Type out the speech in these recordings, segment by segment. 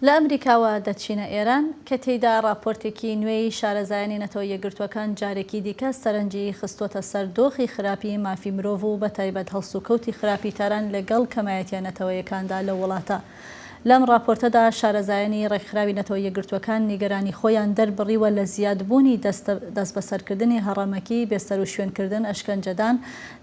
لە ئەمریکاوە دەچینە ئێران، کە تێیدا ڕاپۆرتێکی نوێی شارەزایانی نەتەوە یەکگرتووەکان جارێکی دیکە سەرنجی خستووەتە سەر دۆخی خراپی مافی مرۆڤ و بەتایبەت هەڵسوکەوتی خراپی تاران لەگەڵ کەمایەتیە نەتەوەیەکاندا لەو وڵاتە. لەم ڕاپۆرتەدا شارەزایانی ڕێکخراوی نەتەوە یەکگرتووەکان نیگەرانی خۆیان دەربڕیوە لە زیادبوونی دەستبەسەرکردنی هەڕەمەکی، بێسەروشوێنکردن، ئەشکەنجەدان،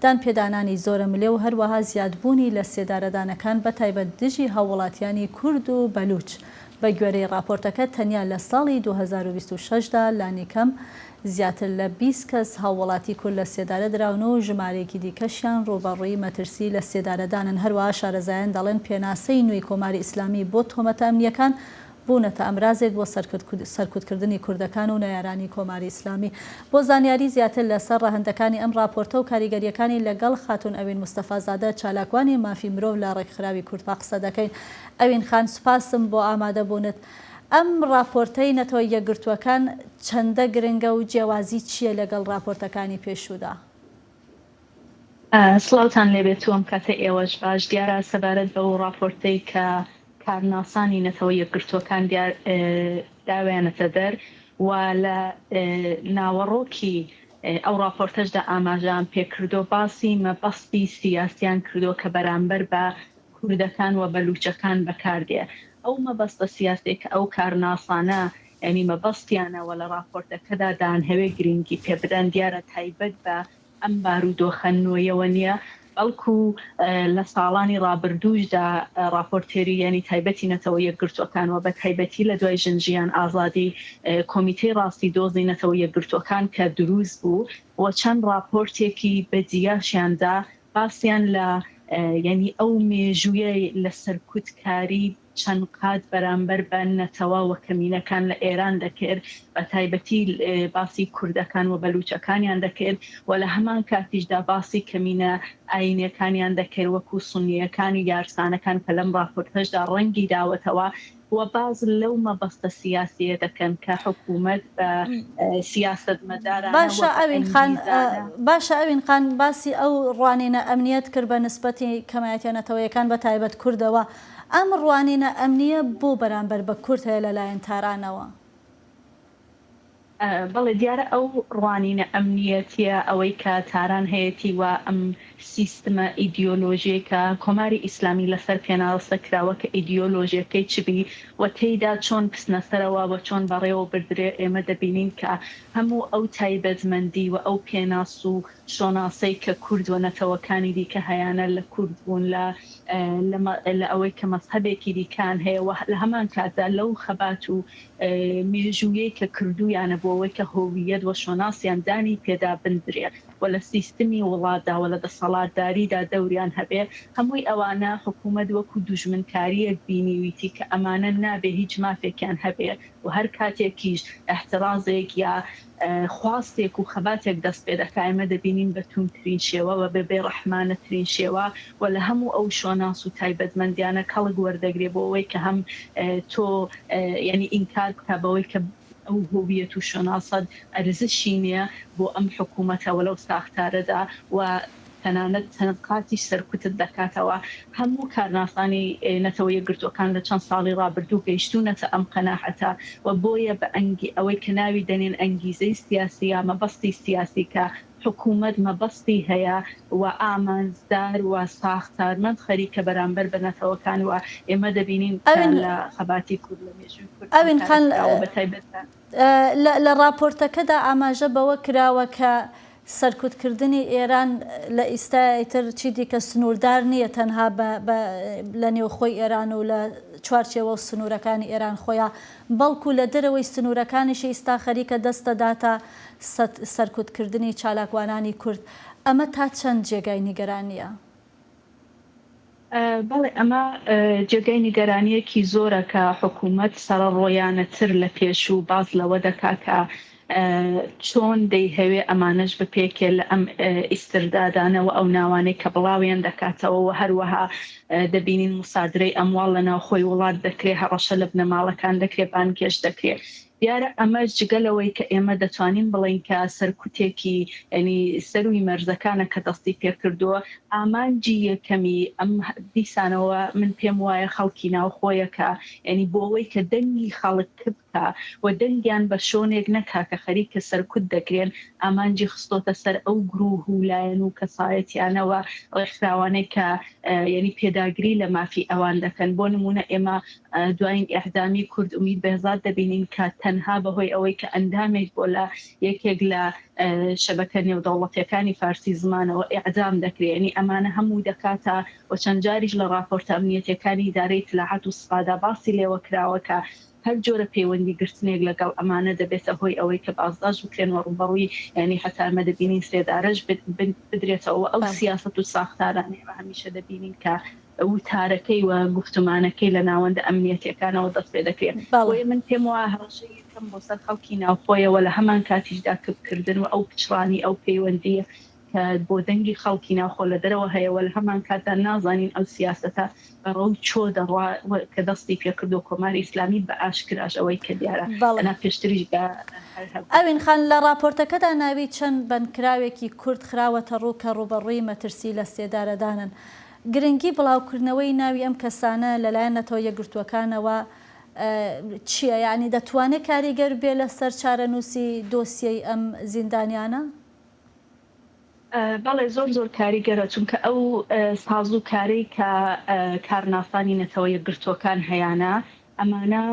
دانپێدانانی زۆرەملێ و هەروەها زیادبوونی لە سێدارەدانەکان بە تایبەت دژی هاووڵاتیانی کورد و بەلووچ، بە گوێرەی ڕاپۆرتەکە تەنیا لە ساڵی دوو هەزار و بیست و شەش دا لانیکەم زیاتر لە بیست کەس هاووڵاتی کورد لە سێدارە دراون و ژمارەیەکی دیکەشیان ڕووبەڕووی مەترسی لە سێدارەدانن هەروەها شارەزایان دەڵێن پێناسەی نوێی کۆماری ئیسلامی بۆ تۆمەتە ئەمنییەکان بوونەتە ئەمرازێک بۆ سەرکوتکردنی کوردەکان و نەیارانی کۆماری ئیسلامی. بۆ زانیاری زیاتر لە سەر ڕەهەندەکانی ئەم ڕاپۆرتە و کاریگەریەکانی لە گەڵ خاتوون ئەوین مستەفا زادە چالاکوانی مافی مرۆڤ لە ڕێکخراوی کوردپا قسە دەکەین. ئەوین خان سوپاسم بۆ ئامادە بوونت. ئەم ڕاپۆرتەی نەتەوە یەکگرتووەکان چەندە گرنگە و جێوازی چیە لە گەڵ ڕاپۆرتەکانی پێشوودا؟ سڵاوتان لێبێت و ئەم کاتەی ئێوەش باش، دیارە سەبارەت بەو ڕاپۆرتەی کە کارناسانی نەتەوە یەکگرتووەکان دیار داویانەتە دەر و لە ناوەڕۆکی ئەو ڕاپۆرتەشدا ئاماژەیان پێکردووە باسی مەبەستی سیاسیان کردووە کە بەرامبەر بە کوردەکان و بەلووچەکان بەکاردێ، ئەو مەبەستە سیاسییە کە ئەو کارناسانە یانی مەبەستیانە وە لە ڕاپۆرتەکەدا دانهەوێ گرینگی پێ بدەن دیارە تایبەت بە ئەم بارودۆخە نۆیەوە نیە بەڵکو لە ساڵانی ڕابردووشدا ڕاپۆرتێری یانی تایبەتی نەتەوە یەکگرتووەکان وە بە تایبەتی لە دوای ژن ژیان ئازادی کۆمیتەی ڕاستی دۆزی نەتەوە یەکگرتووەکان کە دروست بوو وە چەند ڕاپۆرتێکی بە جیاشیان دا باسیان لە یانی ئەو مێژوویەی لە سەرکوت کاری چەند قات بەرامبەر بە نەتەوە وکەمینەکان لە ئێران دەکرد، بە تایبەتی باسی کوردەکان وبەلوچەکانیان دەکرد و لە هەمان کاتیشدا باسی کەمینە ئایینیەکانیان دەکرد وەکو سونیەکان و یارسانەکان کە لەم ڕاپۆرتەشدا ڕەنگی داوەتەوە و باس لەو مەبەستە سیاسیە دەکەن کە حکومەت بە سیاسەتمەدارانە وەک ئەنگیزانە. باشە ئەوین خان باسی ئەو ڕوانینە ئەمنیەت کرد بە نسبەتی کەمایەتیە نەتەوەیەکان بە تایبەت کوردەوە ئەم ڕوانینە ئەمنییە بۆ بەرامبەر بە کورد هەیە لەلایەن تارانەوە؟ بەڵێ، دیارە ئەو ڕوانینە ئەمنییەتییە ئەوەی کە تاران هەیەتی و ئەم سیستمە ئیدیۆلۆژیەی کە کۆماری ئیسلامی لەسەر پێناسە کراوە کە ئیدیۆلۆژیەکەی چ بی و تێیدا چۆن بچنەسەرەوە و چۆن بەڕێوە بردرێ ئێمە دەبینین کە هەموو ئەو تایبەتمەندی و ئەو پێناس و شۆناسەی کە کورد و نەتەوەکانی دیکە هەیانە لە کورد بوون لە لە ئەوەی کە مەزهەبێکی دیکەیان هەیە و لە هەمان کاتدا لەو خەبات و مێژوویەی کە کردوویانە بۆ ئەوەی کە هۆوییەت و شۆناسیان دانی پێدا بندرێ و لە سیستمی وڵاتدا و لە دەسەڵاتداریدا دەوریان هەبێ هەمووی ئەوانە حکوومەت وەکوو دوژمنکارییەک بینیویتی کە ئەمانە نابێ هیچ مافێکیان هەبێ و هەر کاتێکیش ئیحترازێک یا خواستێک و خەباتێک دەست پێ دەکا، ئێمە دەبینین بە تووندترین شێوە و بە بێڕەحمانەترین شێوە و لە هەموو ئەو شۆناس و تایبەتمەندییانە کەڵک وەردەگرێ بۆ ئەوەی کە هەم تۆ یانی ئینکار بکا بەوەی کە ئەو هوویەت و شۆناسەت ئەرزشی نییە بۆ ئەم حکوومەتە و لەو ساختارەدا و تەنانەت چەند قاتیش سەرکوتت دەکاتەوە. هەموو کارناسانی نەتەوە یەکگرتووەکان لە چەند ساڵی ڕابردوو گەیشتوونەتە ئەم قەناعەتە و بۆیە بە ئەنگی ئەوەی کە ناوی دەنێن ئەنگیزەی سیاسی یا مەبەستی سیاسی کە حکوومەت مەبەستی هەیە و ئامانجدار و ساختارمەند خەریکە بەرامبەر بە نەتەوەکان و ئێمە دەبینین کە لە خەباتی کورد لە مێژووی کورد ئەم کارە کراوە بە تایبەت لە لە ڕاپۆرتەکەدا ئاماژە بەوە کراوە کە سەرکوتکردنی ئێران لە ئیستایای تر چی دیکە سنووردار نییە تەنها بە لە نێوخۆی ئێران و لە چوارچێوە و سنوورەکانی ئێران خۆیا، بەڵکوو لە دەرەوەی سنوورەکانیشی ئیستا خەریکە دەست دەداتە سەرکوتکردنی چالاکوانانی کورد. ئەمە تا چەند جێگای نیگەرانییە؟ بەڵێ ئەمە جێگای نیگەرانییەکی زۆرە کە حکوومەت سەڕەڕۆیانەتر لە پێشوو باس لەوە دەکا کە چۆن دەیهەوێ ئەمانەش بپێکێ لە ئەم ئیستردادانەوە ئەو ناوانەی کە بڵاویان دەکاتەوە و هەروەها دەبینین مسادرەی ئەمواڵ لە ناوخۆی وڵات دەکرێ هەڕەشە لە بنەماڵەکان دەکرێ بانگهێشت دەکرێ دیارە ئەمەش جگە لەوەی کە ئێمە دەتوانین بڵێین کە سەرکوتێکی یانی سەرووی مەرزەکانە کە دەستی پێ کردووە، ئامانجی یەکەمی ئەم دیسانەوە من پێم وایە خەڵکی ناوخۆیەکە یانی بۆوەی کە دەنگی خەڵک کپکا و دەنگیان بە شۆنێک نەکا کە خەریکە سەرکوت دەکرێن ئامانجی خستۆتە سەر ئەو گروه و لایەن و کەسایەتیانە و ڕێکخراوانەی کە یانی پێداگری لە مافی ئەوان دەکەن بۆ نموونە ئێمە دوایین ئێعدامی کورد ئومید بێهزاد دەبینین کە تەنها بەهۆی ئەوەی کە ئەندامێک بۆ لە یەکێک لە شەبەکە نێودەوڵەتیەکانی فارسی زمانەوە ئێعدام دەکرێ یەنی ئەمانە هەموو دەکاتە و چەند جاریش لە ڕاپۆرتە ئەمنیەتیەکانی ئیدارەی ئیتلاعات و سپادا باسی لێوە کراوە کە هەر جۆرە پەیوەندی گرتنێک لە گەڵ ئەمانە دەبێتە هۆی ئەوەی کە بازداش بکرێن و ڕووبەڕووی یەنی هەتا ئێمە دەبینین سێدارەش بدرێتەوە و ئەو سیاسەت و ساختارانە ئێمە هەمیشە دەبینین کە وتارەکەی و گوفتومانەکەی لە ناوەندە ئەمنیەتیەکانەوە دەست پێ دەکرێت. بۆیە من پێم وایە هەڕەشەی یەکەم بۆ سەر خەڵکی ناوخۆیە و لە هەمان کاتیشدا کپ کردن و ئەو پچڕانی ئەو پەیوەندیە کە بۆ دەنگی خەڵکی ناوخۆ لە دەرەوە هەیە و لە هەمان کاتدا نازانین ئەو سیاسەتە بە ڕەوی چۆ دەڕوا و کە دەستی پێ کردوە کۆماری ئیسلامی بە ئاشکراش ئەوەی کە دیارە ئەنا پێشتریش بە هەر هەبوو. ئەوین خان، لە ڕاپۆرتەکەدا ناوی چەند بەندکراوێکی کورد خراوەتە ڕوو کە ڕووبەڕووی مەترسی لە سێدارەدانن. گرنگی بڵاوکردنەوەی ناوی ئەم کەسانە لەلایەن نەتەوە یەکگرتووەکانەوە چییە؟ یانی دەتوانێت کاریگەر بێت لەسەر چارەنووسی دۆسیەی ئەم زیندانیانە؟ بەڵێ زۆر زۆر کاریگەرە، چونکە ئەو سازوکارەی کە کارناسانی نەتەوە یەکگرتووەکان هەیانە ئەمانە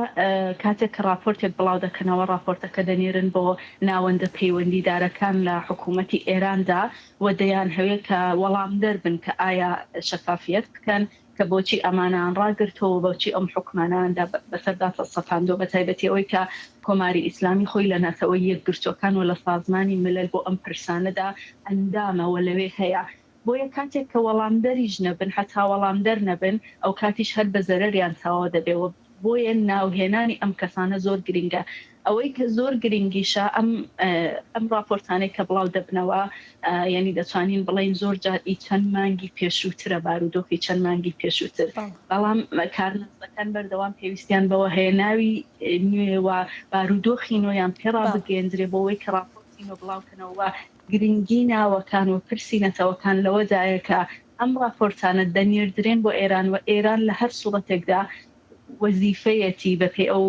کاتێک کە ڕاپۆرتێک بڵاو دەکەنەوە، ڕاپۆرتەکە دەنێرن بۆ ناوەندە پەیوەندیدارەکان لە حکوومەتی ئێراندا و دەیانهەوێ کە وەڵامدەر بن کە ئایا شەفافییەت بکەن کە بۆچی ئەمانەیان ڕاگرتووە و بۆچی ئەم حوکمانەیاندا بەسەردا سەپاندووە، بەتایبەتی ئەوەی کە کۆماری ئیسلامی خۆی لە نەتەوە یەکگرتووەکان و لە سازمانی ملل بۆ ئەم پرسانەدا ئەندامە و لەوێ هەیە. بۆیە کاتێک کە وەڵامدەریش نەبن هەتا وەڵامدەر نەبن ئەوکاتیش هەر بە زەرەریان تاوا دەبێ و بۆیە ناو هێنانی ئەم کەسانە زۆر گرینگە ئەوەی کە زۆر گرینگیشە ئەم ئەم ڕاپۆرتانەی کە بڵاو دەبنەوە یانی دەتوانین بڵێین زۆر جار ئی چەند مانگی پێشووترە بارودۆخی چەند مانگی پێشووتر بەڵام کارناسەکان بەردەوام پێویستیان بەوە هەیە ناوی نوێ و بارودۆخی نۆیان پێ ڕابگەیەندرێ بۆ ئەوەی کە ڕاپۆرتی نۆ بڵاو کەنەوە و گرنگی ناوەکان و پرسی نەتەوەکان لەوەدایە کە ئەم ڕاپۆرتانە دەنێردرێن بۆ ئێران و ئێران لە هەر سوڕەتێکدا وەزیفەیەتی بە پێی ئەو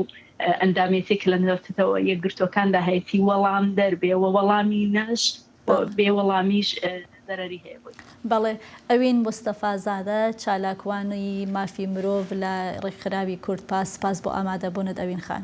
ئەندامێتی کە لە نەتەوە یەکگرتووەکاندا هەیەتی وەڵامدەر بێ و وەڵامی نەش و بێ وەڵامیش زەرەری هەیە بۆی. بەڵێ ئەوین مستەفا زادە، چالاکوانی مافی مرۆڤ لە ڕێکخراوی کوردپا، سپاس بۆ ئامادەبوونت ئەوین خان.